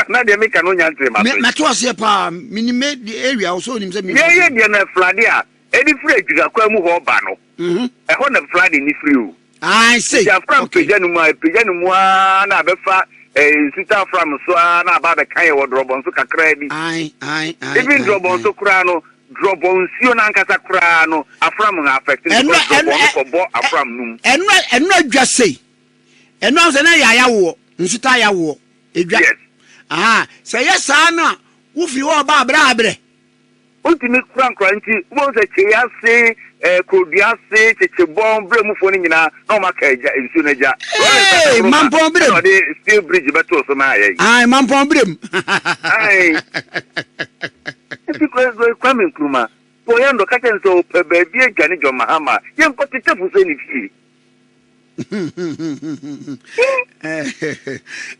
na deɛ meka no nya ntere ma so yi mɛto aseɛ paa menim me area wo sɛ onim sɛ yɛn yɛ deɛ na afra de a ɛde firi adwira kwa mu hɔ ba no mhm. ɛhɔ na afra de ne firi o Ae sei. Nti afra mu pagya no mu a, ɛpagya no mu ara na abɛfa eh, nsuta afra mu so ara na aba abɛka yɛ wɔ drɔbɔn so kakraa bi. Ae, ae, ae. Even drɔbɔn so koraa no, drɔbɔn nsuo no ankasa koraa no, afra mu ha affect no because drɔbɔn no kɔbɔ afra mu no mu. Ɛno ɛno adwa sei. Ɛno ahosɛ na yɛ ayawoɔ, nsuta ayawoɔ, ɛdwa. Yes. Aha, sɛ yɛ saa na wofiri hɔ ɔba abrɛ abrɛ. Wontumi kura nkora nti, wobɛhu sɛ kyei ase, eh, kurodua ase, kyekyebɔn, berɛ mufoɔ no nyinaa, na wɔn aka agya, nsuo no agya. Rollins Hey, Asankoro ma mampɔn berem. ɛna ɔde steel bridge bɛtoo so maa yɛn. Ae, mampɔn berem. Ae. Nti Kwa- Kwame Nkrumah, Kpɔyando, ka kyerɛ no sɛ ɔpɛ baabi adwane John Mahama a, yɛnkɔ tetefo sɛ ne fie.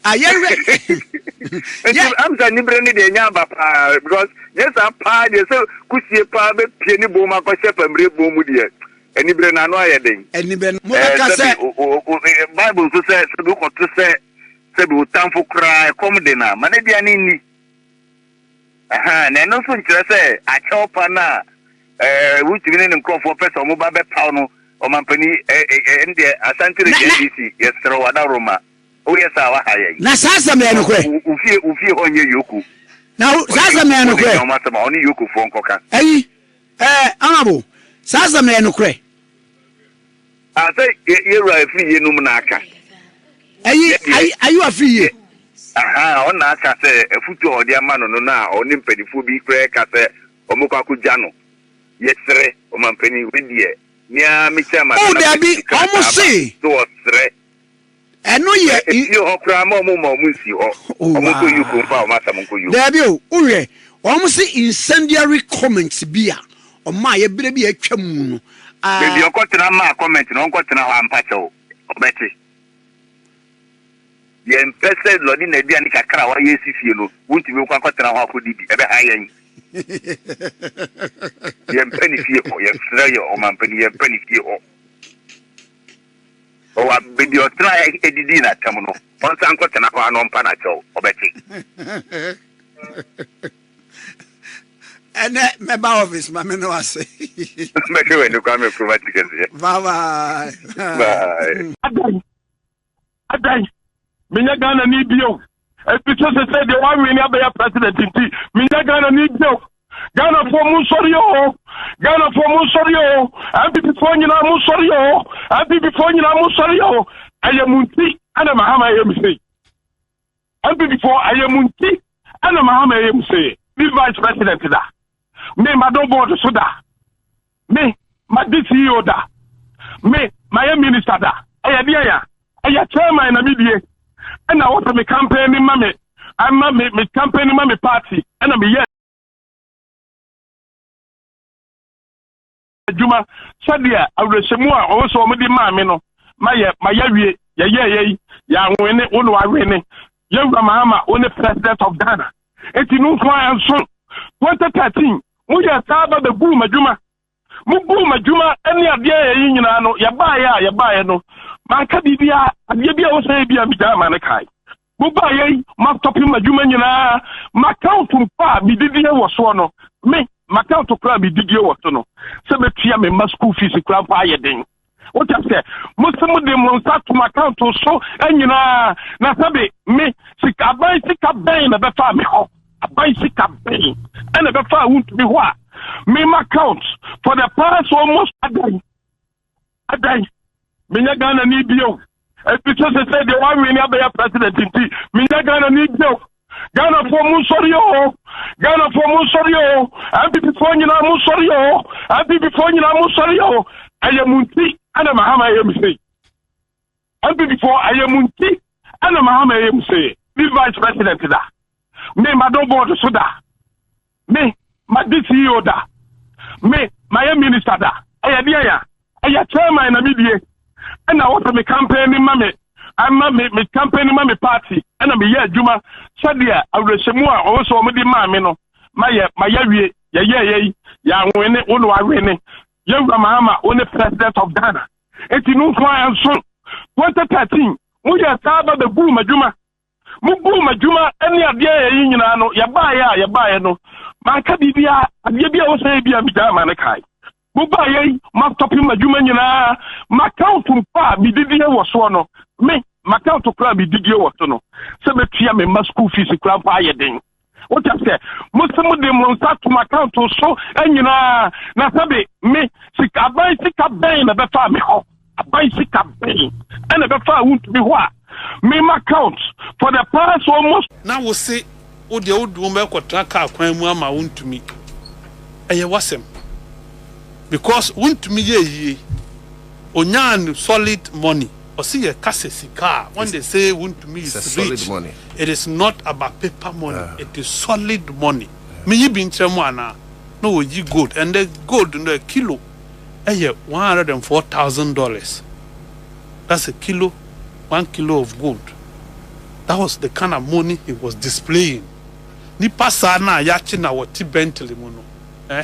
ayɛ wɛ nti amsa niberɛ no deɛ ɛnya aba paa because nyɛ saa paa deɛ sɛ kusie paa bɛpie ne bom akɔhyɛ pamire bom mu deɛ aniberɛ no ano ayɛ den aniberɛ no mobɛka eh, sɛ bible nso sɛ sɛbi wokɔto sɛ sɛbi wotamfo koraa ɛkɔm de no a ma no aduane nni Ahaa, na ɛno nso nkyerɛ sɛ akyɛw pa no a ɛɛ Rotimi ne ne nkurɔfoɔ pɛ sɛ wɔba bɛpaw no, Ɔmampanin, ɛɛ, ɛɛ, ɛndeɛ, Asante Reggae NDC, yɛsrɛ wo, Adaworoma, woyɛ saa a, woaha yɛn. Na saa asɛm no yɛ nokorɛ? Wo, wo fie, wo fie hɔ nyɛ Yoko. Na wo, saa asɛm no yɛ nokorɛ? Ɔne Yoko, ɔne Yokofoɔ nkɔka. Ayi. Eh, honourable, saa asɛm no ɛyɛ nokorɛ. Ah, sɛ yɛ yɛ wura afiri yie nom na aka. Ayi, Yɛ deɛ, ayi, ayi wafiri yie. aha, ɔno na aka sɛ afutuo a wɔde ama no no na ɔne mpanifoɔ bi koraa ɛka sɛ wɔmɛkɔ akɔgya no. Yɛsrɛ, ɔmampanin, wei deɛ, me ara me chairman Oh, na daabi, mɛde krataa wɔn se. aba, sɛ wɔsrɛ. Ɛno yɛ. Ɛsii hɔ koraa ma wɔn mma wɔn nsii hɔ. Wɔn nkɔ Yuko mfa wɔn asɛm nkɔ Yuko. Daabi o, wohwɛ, wɔn se incendiary comment bi a ɔmaayɛ berɛ bi a atwa mu no, a. Baabi a ɔkɔtena maa comment no, ɔnkɔ tena hɔ ampa kyɛw, ɔbɛte. Yɛmpɛ sɛ lɔde n'aduane kakra a wayɛ asi fie no, wontumi nkɔ akɔtena hɔ akɔdidi, ɛbɛha yɛn. Yɛmpɛ ne fie hɔ, yɛsrɛ yɛ ɔmampanin, yɛmpɛ ne fie hɔ. Ɔwɔ a, baabi a ɔtenae didii n'atɛm no, ɔnsan nkɔtena hɔ ara na ɔmpa no akyɛw. Ɔbɛte. Ɛnɛ mɛba office ma me ne wase. Mɛhwɛ w'ani Kwame Nkrumah ti kɛseɛ. Bye bye. Bye. Adɛn? Menyɛ Ghanani bio. Ebi so sɛ sɛ deɛ wɔawene abɛyɛ president nti, menyɛ Ghanani bio. Ghanafoɔ mo nsɔre o. Ghanafoɔ mo nsɔre o. NPPfoɔ nyinaa mo nsɔre o. NPPfoɔ nyinaa mo nsɔre o. Ɛyɛ mo nti ɛna Mahama ɛyɛ me sei. Mpanyinfoɔ ɛyɛ mo nti ɛna ma ama ɛyɛ mo sɛyɛ. Me vice president da. Me ma dɔ board so da. Me ma di CEO da. Me ma yɛ minister da. Ɛyɛ deɛ ya. Ɛyɛ chairman na me die. Ɛna wɔsɛ me campaign ni ma me. Ama me me campaign ni ma me party. Ɛna me yɛ. adwuma sɛdeɛ awerɛhyɛmu a ɔwɔ sɛ wɔde maa me no ma yɛ ma yɛawie yɛyɛɛ yɛyi yɛawene wo ne wawene yɛwura mahama wo ne president of ghana enti no nko a nso 2013 moyɛ saa ba bɛguu m'adwuma mobuu m'adwuma ne adeɛ yɛyi nyinaa no yɛbaeɛ a yɛbaeɛ no manka biribiaa adeɛ bi a wɔ sɛ yɛ bi a megyaa ma no kae Mobaa yɛ yi, mastɔpe m'adwuma nyinaa. M'akawnt mpo a medidie wɔ soɔ no, me, m'akawnt koraa a medidie wɔ so no, sɛ mɛtua me mma sukuu fees koraa mpo ayɛ den. Wote aseɛ? Mo se mode mo nsa ato m'akawnt so nyinaa, na sɛbe me, sika, aban sika bɛn na ɛbɛfaa me hɔ? Aban sika bɛn ɛna ɛbɛfaa wontumi hɔ a? Me m'akawnt for the past almost adan. adan menya ghana ne bio ɛti sɛ sɛ sɛ deɛ woawene abɛyɛ president nti menya ghana ne bio ghanafoɔ mu nsɔre o ghanafoɔ mu nsɔre o mpipfoɔ nyinaa mu nsɔre o mpipfoɔ nyinaa mu nsɔre o ɛyɛ mu nti ɛna mahama ɛyɛ me sei Mpanyinfoɔ ayɛ mu nti ɛna mahama ɛyɛ mu sɛ me vice president da me madɔ board so da me madi ceo da me mayɛ minister da ɛyɛ deɛ ya ɛyɛ chairman na medie ɛna wɔsɛ me campaign ni ma me ama me me campaign ni ma me party ɛna meyɛ adwuma sɛdeɛ awerɛhyɛmu a ɔwɔ sɛ wɔde maa me no mayɛ mayɛ wie yɛyɛ yɛ yi yɛawene wo na wawene Yɛn Wura Mahama wo ne President of Ghana nti no nko ara ɛnso. 2013 mo yɛɛ saa ba bɛ guu m'adwuma, mo guu m'adwuma ɛne adeɛ yɛ yi nyinaa no yɛ baayɛ a yɛ baayɛ no manka biribiara adeɛ bi a ɛwɔ sɛ yɛ bi a megyae ma ne kae. Mo baayɛ yi ma stɔpe m'adwuma nyinaa m'account mpo a medidie wɔ soɔ no me m'account koraa a medidie wɔ so no sɛ mɛtua me mma school fees koraa mpo ayɛ den. wotam sɛ mose mode mo nsa tom account so nyinaa na sɛbe me sika aban sika bɛn na ɛbɛfaa me hɔ aban sika bɛn ɛna ɛbɛfaa wontumi hɔ a mema account for the past almost na wo se wo deɛ wo duom ɛkɔtena kaa kwan mu ama wontumi ɛyɛ wasɛm because wontumi yɛ yie onyaa no solid money. Ɔse yɛ ka sɛ sika a when they say wontumi is rich it is not about paper money it is solid money me yi bi nkyerɛ mo anaa na wɔyi gold ɛndɛ gold no a kilo ɛyɛ one hundred and four thousand dollars that's a kilo one kilo of gold that was the kind of money he was displaying nipa saa na yɛakye na wɔte Bentley mu no eh.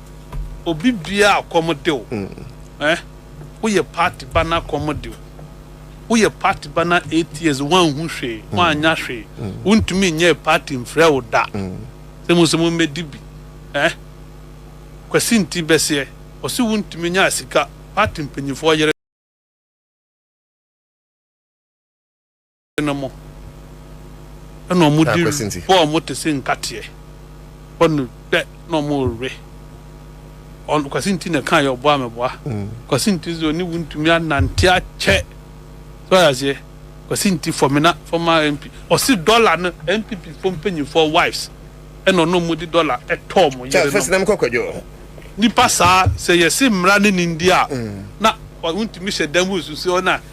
Obi bia a kɔm de wo eh Woyɛ party ba na kɔm de wo Woyɛ party ba na eight years woanhu hwee woannya hwee Wontumi nyɛɛ party mfrɛ wo da Sɛ mo sɛ mommɛdi bi eh Kwasi nti bɛseɛ Ɔse wontumi nyaa sika Party mpanyinfoɔ yere. ase no mu, na wɔde rebɔ wɔn te sɛ nkateɛ, bɔ no dɛ na wɔrewe. Ɔno Kwasi nti na ɛkaa yɛ ɔboa me boa. Kwasi nti dze ɔne wo ntumi anante akyɛ. So ɔyɛ aseɛ. Kwasi nti Fɔmina former MP ɔse dɔla no NPP foɔ mpanyinfoɔ wives ɛna ɔne wɔn de dɔla ɛtɔ wɔn yerenom. Nipa saa sɛ yɛse mmra ne ne ndi a na wontumi hyɛ dan mu nsusuo na.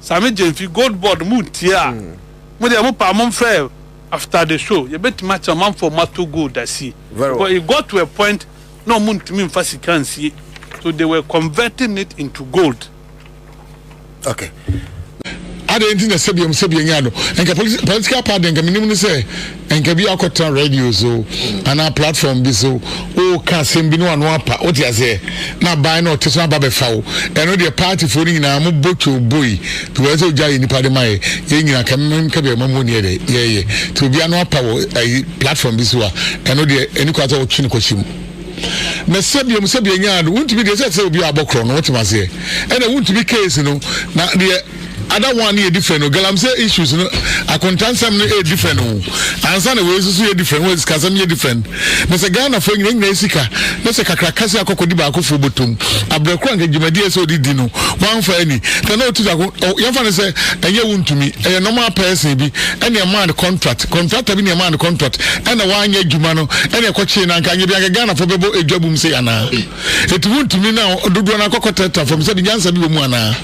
Sammy Gyamfi, Gold Board, mo ntie a, mo deɛ mo pɛ a momfrɛ after the show, yɛbɛtumi akyerɛ mo amanfoɔ a moatɔ gold asie. Because it got to a point na wɔn ntumi mfa sika nsie, so they were converting it into gold. Okay. Adɛn nti na sɛbea mu sɛbea nyaa no? Nka political party deɛ nka menim no sɛ. Nka bi akɔtena radio so anaa platform bi so woka asɛm bi ne wano apa wote aseɛ na aban na ɔte so aba bɛfa wo ɛno deɛ partyfoɔ no nyinaa mo bɔ twoo boi because sɛ ogya yɛ nipa de ma yɛ yɛ nyina ka mmem ka bi ɛma mu oniɛ dɛ yɛyɛ nti obi ano apa wɔ ayi platform bi so a ɛno deɛ ɛni kwa sɛ wotwe no kɔhyɛ mu na sɛbia mu sɛbia nyaa no wontumi deɛ sɛ sɛ obi abɔ korɔ no wote aseɛ ɛna wontumi case no na deɛ Ada one no yɛ different o galamsey issues no akontansɛm no yɛ different o ansa na wei soso yɛ different wei sikasɛm yɛ different na sɛ Ghana fo nyina nyina sika na sɛ kakra kasi akɔkɔ di baako fo botom abrɛ kora nka gyimadi ɛsɛ odi di no wanfa ani na na otu ako yɛnfa no sɛ ɛnyɛ wo ntumi ɛyɛ normal person bi ɛna ɛmaa no contract contractor bi na ɛmaa no contract ɛna wanyɛ adwuma no ɛna ɛkɔkyee no anka nyɛ bi anka Ghana fo bɛbɔ adwa bum sei anaa Eti wontumi na dodoɔ no akɔkɔ tɛta fam sɛde nyansa bi wɔ mu anaa?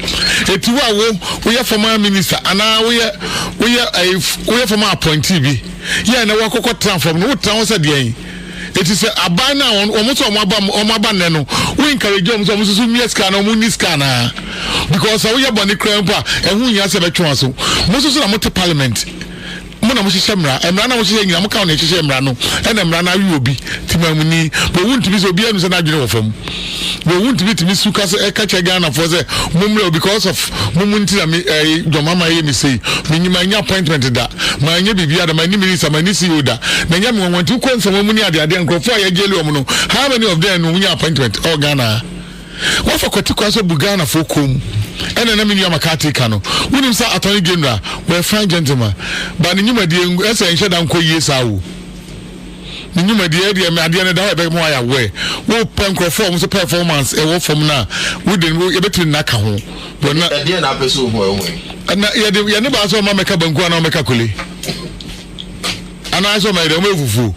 Eti wo a wo woyɛ former minister anaa woyɛ woyɛ ɛɛ eh, woyɛ former appointee bi yɛ na wakɔkɔ tena fam no wotena hɔ sɛ deɛn? Eti sɛ aban no a wɔn wɔn nso wɔn aba wɔn aba nnɛ no wo encourage wɔn sɛ wɔn nso so mmea sika anaa wɔn nni sika anaa? Because sɛ woyɛ bɔne koraa mpo a ɛho nhia sɛ bɛtwe wɔn aso. Mo nso so na mote parliament. Mo na mohyehyɛ mmara, mmara na mohyehyɛ nyina, moka wɔn hyehyɛ mmara no, ɛna mmara no awe obi, Timanmuni, bɔ wo ntumi sɛ obi anu sɛ n'adwene wɔ fam, bɔ wo ntumi tumi su ka sɛ ɛka kyɛ Ghana foɔ sɛ mo mmerɛ o because of mo mo nti na me ɛɛ John Mahama ɛyɛ me sei, me nyi mannya appointment da, manyɛ biribiara da, manni minista, manni CEO da, na ɛnyɛ me nwanwa nti, wokɔ nfama mu ne adeadeɛ a nkorɔfoɔ a yɛgyeli wɔn no how many of them no wonya appointment ɛwɔ Ghana ha? Woafa kwati kwan so abu Ghanafoɔ koom ɛna na me nua McCarthy ka no wonim sɛ Attorney General wɔyɛ fine gentleman but ne nwumadie ɛsɛ ɛnhyɛ da nkɔ yie saa o ne nwumadie ɛdeɛ me adeɛ no da hɔ ɛbɛma wayɛ aware wopɛ nkurɔfoɔ a wɔn nso performance ɛwɔ fam no a wode no yɛbɛtumi nna ka ho bɔ na ɛdeɛ na apɛ sɛ ohu ɛho yi ɛna yɛde yɛne baa sɛ ɔma mɛka banku anaa ɔmɛka kole anaasɛ ɔmayɛ dɛ ɔmafufuo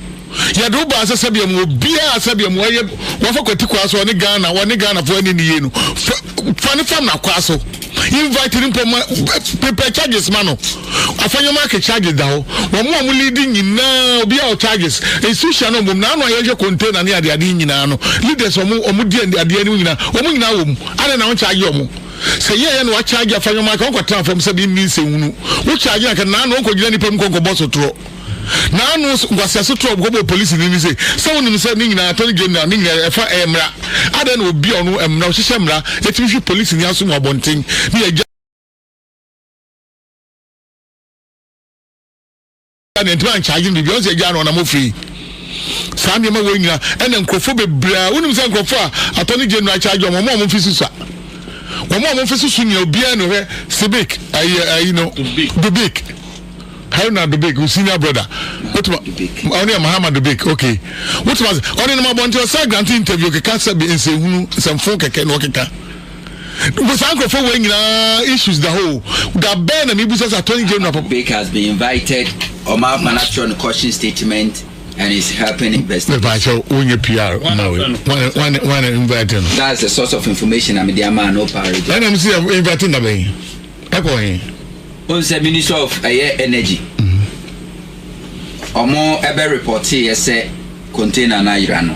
yɛde wo baa sɛ sɛdeɛ mu obiaa sɛdeɛ mu ɔyɛ wafa kwati kwaa so ɔne ghana ɔne ghanafoɔ ani ne yie no fa ne fam nakwaa so invite no mpo ma prepare charges ma no afa nneɛma ake charges da hɔ wɔn a wɔn lead nyinaa obiaa wɔ charges institution no mbom na ano a yɛhwɛ container ne adeade nyinaa no leaders wɔn wɔn di adeɛ anim nyinaa wɔn nyinaa wɔ mu adɛn na wɔn charge wɔn Sɛ yɛyɛ na wɔakyagye afa nneɛma anka wɔnkɔtena fam sɛ bi nni nsɛnhunu. Wokyagye a anka naano wɔnkɔgyina nnipa mu nkɔnkɔbɔ sotorɔ. Naano nkwaseɛ sotorɔ a wɔkɔbɔɔ polisini no se, sɛ wonim sɛ ne nyinaa attorney general ne nyinaa ɛfa ɛyɛ mmara. Adɛn na obi a ɔno mmara ɔhyehyɛ mmara yɛtumi hwe polisini aso mu abɔnten ne yɛgya. na ntoma nkyagye no biribi ɔn sɛ agya no ɔnam ofiri saa nneɛma wɔ nyina ɛna nkurɔfoɔ bebree a wonim sɛ nkurɔfoɔ a atɔ ne gyenu akyagye wɔn wɔn mfi susa wɔn wɔn mfi susu nyina obiara no hwɛ sibik ayi ayi no dubik haruna dubik senior brother wotuma ɔne yɛ mahama dubik okay wotuma ɔne nam abɔnten ɔsɛ grante interview keka sɛ bi nsɛhunu nsɛmfo kɛkɛ na ɔkeka. Mpo saa nkurɔfoɔ wei nyinaa issues da hɔ o. Da bɛn na mebisa sɛ attorney general papa. Bake has been invited. Ɔma akwan atwerɛ no caution statement and is helping investigation. Mepaakyɛw wonyɛ PR ma wei. Wane wane invite no. That's the source of information na mede ama no parody. Ɛna mo si yɛ invite na bɛn. Ɛkɔ he. Ohun sɛ ministry of ɛyɛ energy. Ɔmo ɛbɛ reportee yɛ sɛ container no ayera no.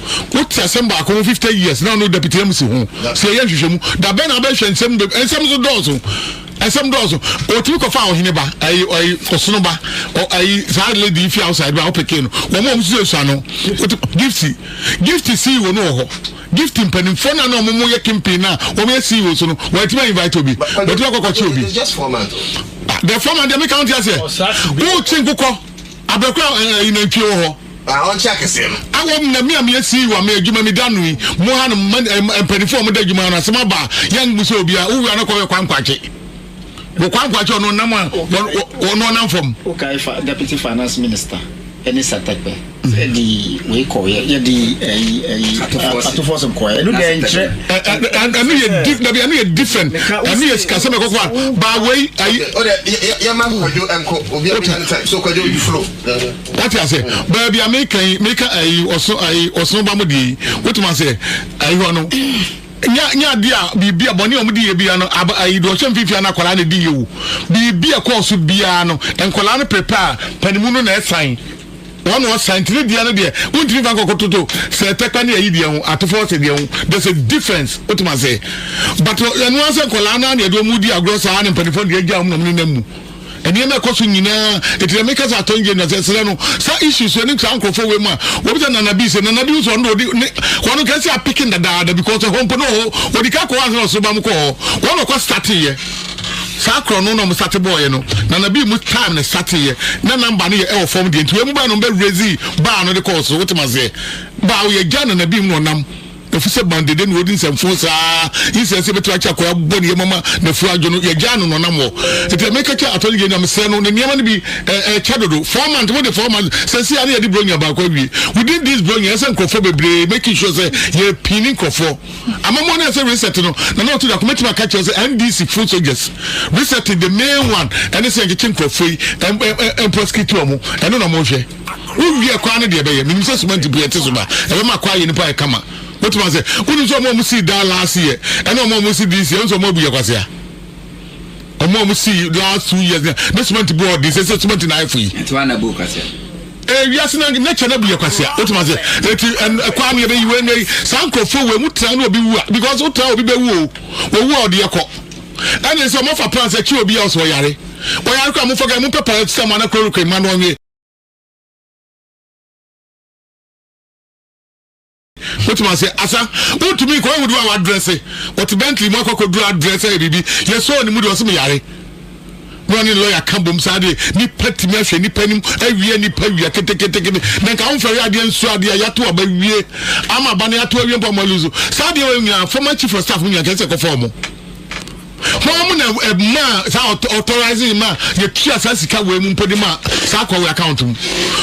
wote asɛm baako ho fifty years na ɔno deputy mc ho sɛ yɛyɛ nhwehwɛmu dabɛn na abɛhwɛ nsɛm bɛ nsɛm so dɔɔso nsɛm dɔɔso ɔtumi kɔfa ɔhene ba ɛyi ɛyi ɔsono ba ɛyi saa lady fi outside ba ɔpeke no wɔn a wɔn nso esua no wotu gifti gifti sii wɔn wɔ hɔ gifti mpanimfoɔ na na wɔn mo yɛ kempe na wɔn yɛ sii wɔn so no wɔn atumi invite obi wɔtumi akɔkɔ kye obi the former deɛ mi kan ti aseɛ wotwi nkokɔ. Abɛkora ɛ ɛ nantwie wɔ hɔ. A ɔnkyɛ akɛseɛ no. Awɔ m na me a me asii wa me adwuma me da no yi mo ha nom ma ɛ ɛ mpanifoɔ a wɔn da adwuma no asɛm aba a yɛn bu sɛ obiara wo wura no kɔ yɛ kwankwaakye wɔ kwankwaakye ɔno ɔnam a ɔno ɔnam fam. Wokae fa Deputy Finance Minister ne Satekpe di. Wei kɔ yɛ yɛ di ɛyi ɛyi atofo sɛm kɔ yɛ ɛnu deɛ nkyerɛ. Ɛnu yɛ di dabi ɛnu yɛ different ɛnu yɛ sikasɛm ɛkɔ kɔ a ba wei ayi. O de yɛ yɛ ma kwadwo ɛnko obi ɛbi na ne time so kwadwo you flow. Wati ase baabi a mi ka yi mi ka ɛyi ɔso ɛyi ɔso ba mo die yi wotu ma se ɛyi hɔ no nya nya adi a biribi a bɔnni a wɔn di yɛ bi ya no aba ɛyi do ɔhyɛ nfinfin na akwadaa na edi yɛ o biribi a kɔɔso biara no nkwadaa no prepare panimu no na ɛsan. Wɔn wɔ santene deɛ no deɛ wontumi fa nkɔkɔ toto sɛ tɛkpa ne ayi deɛ ho atefo ɔsɛ deɛ ho there's a difference wotem ase but ɛno ara sɛ nkɔlaa no ara na ɛde wɔn di agorɔ saa na mpanimfoɔ no deɛ agya wɔn na wɔn nenam mu nneɛma ɛkɔ so nyinaa ɛti na meka sɛ atɔn gye na sɛ serɛ no saa issues so ɛne saa nkurɔfoɔ wei mu a wɔbi sɛ nana bi sɛ nana bi so ɔno ɔde ne wɔn nka sɛ apeke dadaada because ɛhɔ mpo ne ɔhɔ wɔde ka kɔ hɔ ansa na ɔsoro ba mo kɔ hɔ wɔn ɔkɔ starteeɛ saa korɔ no na ɔmo sate bɔɔyɛ no na na bii mu time no sateeɛ na namba no yɛ ɛwɔ fam deɛ nti wei mu baa na ɔmo bɛ raise baa no de kɔɔ so wote maseɛ baa ɔyɛ gya na na bii mu na ɔnam efisɛ bandede na ɔdi nsɛmfo saa nsɛn sɛ bɛtumi akyɛ akɔya bɔ ne yɛ mama na furu adwo no yɛgya no na ɔnam hɔ nti na meka kyɛ atɔ no gyɛ nyamesrɛ no ne nneɛma no bi ɛkyɛ dodo four months wode four months sɛ si a ne yɛde bronya baako awie within this bronya ɛsɛ nkurɔfoɔ bebree making sure sɛ yɛpini nkurɔfoɔ Amammuo no yɛ sɛ reset no na na ɔte dako mɛtumi aka kyerɛ sɛ NDC full soldiers reset the main one ɛne sɛ yɛnkyekye nkurɔfoɔ yi mprosecute wɔn ɛno na wɔhwɛ wowie kwaa no deɛ ɛbɛyɛ menim sɛ cement mpo yɛte so ba ɛbɛma kwaa yɛ nipa yɛ kama wotumi ase wonim sɛ ɔmo ɔmo sii daa last year ɛne ɔmo ɔmo si this year nso ɔmo abu yɛ kwasea ɔmo a ɔmo si last two years na na cement bu ɔden sɛ sɛ cement na ayɛ fo yi. nti wa na bu kwasia. ee wiase na nature na bu yɛ kwasia o tuma se eti ɛkɔ ani ebe yi wei na yi saa nkorofo wei mu tena na obi wu a because o tena obi bɛ wu o owu a ɔde yɛ kɔ ɛna sɛ ɔmo fa plan sɛ kyi obi a ɔsɛ ɔyare ɔyare kɔ a mo fɔ kɛ mo pɛ pɛ sɛ mo anakoro kɔ ema na ɔnwe. wotumi ase asa wotumi kɔ ehudu a wadrɛse wɔte bentley mu akɔkɔ duru adrɛse ayɛ biribi yɛsɔɔ ne mu de ɔsɛ me yare na ɔne lɔya ka bom saa de nipa tumi ahwɛ nipa anim awia nipa wia keteketeke ne na nka wofɛre adeɛ nsu adeɛ a yɛato aba wie ama aba no yɛato awie mpo ama lusu saa adeɛ wɔ nyinaa former chief of staff nyinaa kɛsɛ kɔfa ɔmo Hwan mu na ɛmaa saa authorizing ma yɛtua saa sika wei mu mpo de ma saa akɔ wei account mu?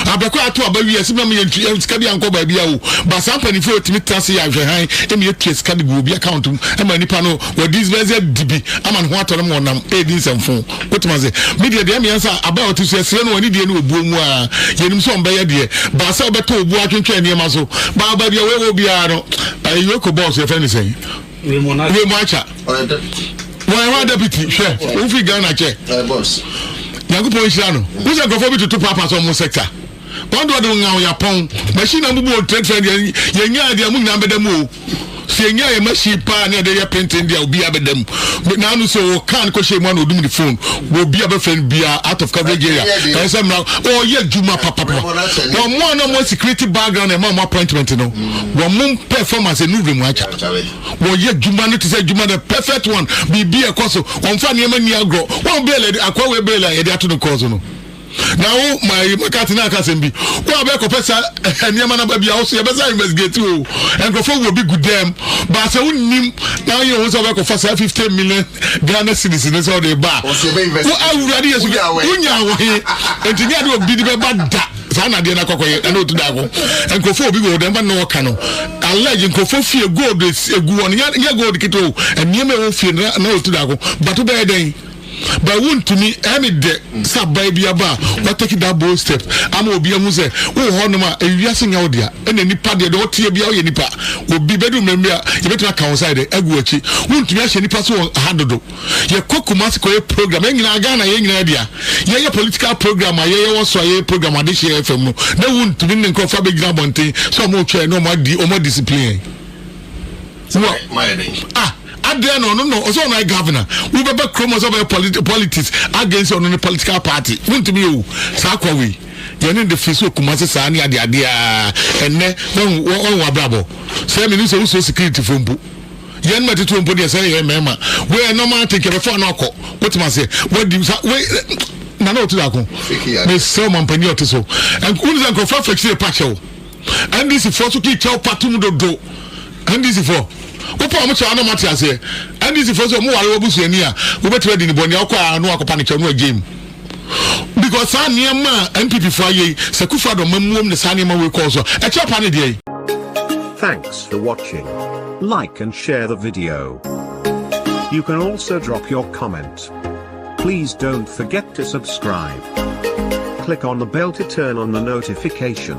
Abɛkɔ ato aba wie ɛsɛ mmerɛ mu yɛntua sika bi ankɔ baabi a o ba saa mpanimfoɔ yɛtumi tra se yɛ ahwɛ han ɛma yɛtua sika de gu obi account mu ɛma nipa no wɔde sbɛsɛ di bi ama ne ho atɔ no ma ɔnam ɛredi nsɛmfo wotumi ase me deɛ deɛ meyɛ sɛ aba a ɔte so ɛserɛ no wɔne deɛ ne obuo mu a yɛnim sɛ ɔmbɛyɛ deɛ ba sɛ wobɛtɔ obuo atwentwɛn nneɛma so ba ba deɛ wɔɛwɔ biara no ɛyɛ kɔ bɔɔso yɛfɛ ne sɛn wiemu acha wɔyɛ hɔ adapiti hwɛ wofiri ghana kyɛ nyankopɔn nhyira no wo sɛ nkurɔfoɔ bi toto paapa sɛ ɔmo sector wɔn deɛ ɔde wo ŋaw yapɔn machine na mbubu wɔn trade fair deɛ yɛnyaa deɛ mo nyinaa bɛda mu o sɛ yɛnyaa yɛ machine paa ne ɛde yɛ penten deɛ obiara bɛda mu naanu sɛ wɔ kan kɔhyɛ mu ana ɔdum ne phone wɔ obi a bɛfrɛ no biara out of coverage area ɛyɛ sɛ mmara ɔyɛ adwuma papapa wɔn mo a na wɔn security background ɛma wɔn appointment no wɔn mo performance ɛnu wura mu akyɛ. Wɔyɛ adwuma no te sɛ adwuma the perfect one. Biribi a ɛkɔ so. Wɔmfa nneɛma nni agorɔ. Wɔn bɛɛla de akoa wei bɛɛla yɛde ato ne kɔɔ so no. Na wo ma makati na aka asɛm bi. Wo a bɛkɔpɛ sa nneɛma na ba bi a wo so yɛbɛsa investigate o. Nkurɔfoɔ wɔ bi gu dɛm. Ba sɛ wonnim na woyɛ ho sɛ wobɛkɔfa saa 50 million Ghana cedis no sɛ wode ba a. Wo awurade Yesu wonya wɔ he? Nti nyɛ ade obi de bɛba da. saa nadeɛ no akɔkɔyɛ ɛna ɔtu da ho nkurɔfoɔ obi wɔ dɛm na ɔka no alleged nkurɔfoɔ fie gold egu wɔn nyɛ gold kete o nneɛma ɛwɔ fie na na ɔtu da ho bato bɛyɛ dɛn but wontumi ɛne dɛ sɛ abaa bi aba a wataki da bold step ama obi ahu sɛ wowɔ hɔ nom a ewiase nya wo dea ɛna nipa deɛ deɛ ɔteɛ bia woyɛ nipa obi bɛdu mmɛmbi a yɛbɛtumi aka wo nsa yɛ dɛ agu akyi wontumi ahyɛ nipa so wɔ ha dodo yɛ kɔ kumasi kɔ yɛ program yɛ nyinaa ghana yɛ nyinaa bia yɛ yɛ political program a yɛ yɛ wɔ so a yɛ yɛ program ade hyɛ yɛ fam no na ewu ntumi ne nkorɔfo abɛ gyina abɔnten sɛ ɔmo twɛ na ɔmo adi ɔmo discipline wɔ ah adeɛ na ɔno na ɔsɛ ɔno ayɛ governor wobɛbɛ kurom ɔsɛ ɔbɛyɛ politics against ɔno ne political party wontumi yɛ o saa kwa wei yɛne de firi so okuma se saa ne ade adeɛ a ɛnɛ wɔn wɔn abrabɔ sɛ mene sɛ wosuo security fo mpo Yɛn mma titiriw mpo deɛ sɛ yɛyɛ mmarima wei ɛnam ate nka bɛfo ano akɔ wotem aseɛ wadi sa wei nana ɔte daako mesrɛ wo mampanin ɔte so wone sɛ nkurɔfoɔ afɛkyire ɛpa kyɛ wo ndc foɔ so kii kyɛw pa tom dodo ndc foɔ wopɛ ɔmo kyɛw anam ate aseɛ ndc foɔ so ɔmo ware wabusuani a wobɛtumi adi ne bɔne a wokɔ a no akɔpa ne kyɛw no agyem because saa nneɛma a npp fo ayɛ yi sɛ kufu adɔ ma muom ne saa nneɛma wei kɔɔ so ɛkyɛ pa ne deɛ yi. Thanks for watching. Like and share the video. You can also drop your comment. Please don't forget to subscribe. Click on the bell to turn on the notification.